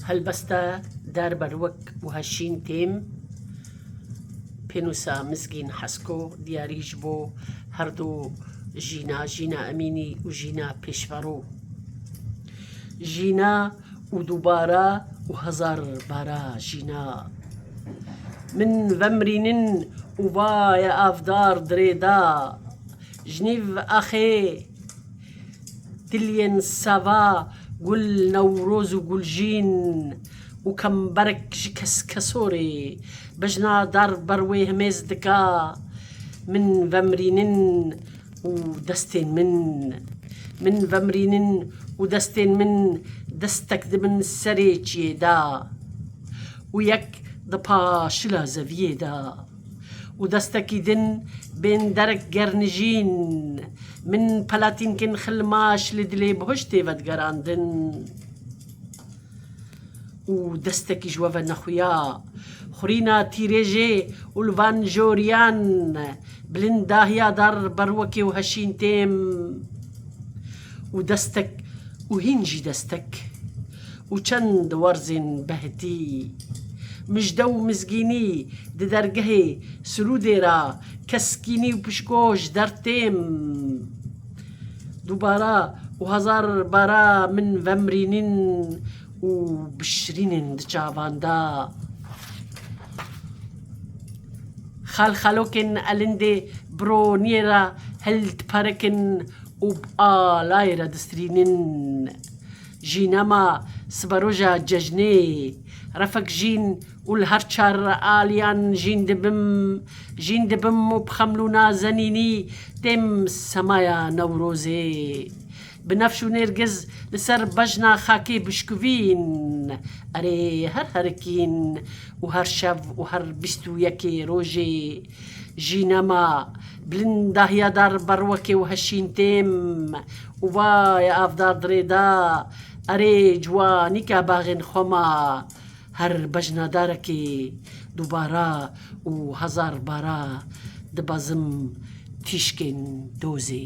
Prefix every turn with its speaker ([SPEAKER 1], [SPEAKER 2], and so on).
[SPEAKER 1] Helbeste der berwek wiha şîn têm, pênûsa Mizgîn Hesko diyarî ji bo her du jîna Jîna Emînî û Jîna Pêşverû, Jîna û dubare û hezar bare jîna min vemirînin û vaye avdar dirê da jinîv axê. Giliyên seva, gul, newroz û gulşîn û kemberek ji keskesorê bejna dar ber wê himêz dika, Min vemirînin û destên min. Min vemirînin û destên min destek di min serê çiyê de û yek di paşila zeviyê de. Û destekî din bên derek gernijîn. Min pelatînkên xilmaş li dilê bihuşt tê vedigerandin. Û destekî ji we ve nexuya. Xurîna tîrêjê û li van joriyan bilind dahiya dar berwekê û heşîn têm. Û destek û hîn jî destek. Û çend werzên behtî, mijde û mizgînî di dergehê Sirûdê ra keskînî û pişko ji der têm. Dûbara û hezar bara min vemrînîn û bişirînên di çavan de. Xelxelokên elindê bironiyê re hildiperikin û bi alayê re distirînin. Jîna ma siberoja cejnê ye. Refek jîn û li her çar aliyan jîn dibim. Jîn dibim û bi xemlûna zenînî têm semaya Newrozê. Binefş û nêrgiz li ser bejna xakê bişkuvîn. Erê her herikîn û her şev û her bîst û yekê rojê. Jî nema bilindahiya dar berwekê û heşîn têm û va ya avdar dirê da, Erê ciwanî ke baxên xwe ma her bejna darekê dubara û hezar bara dibezim tîşkên dozê.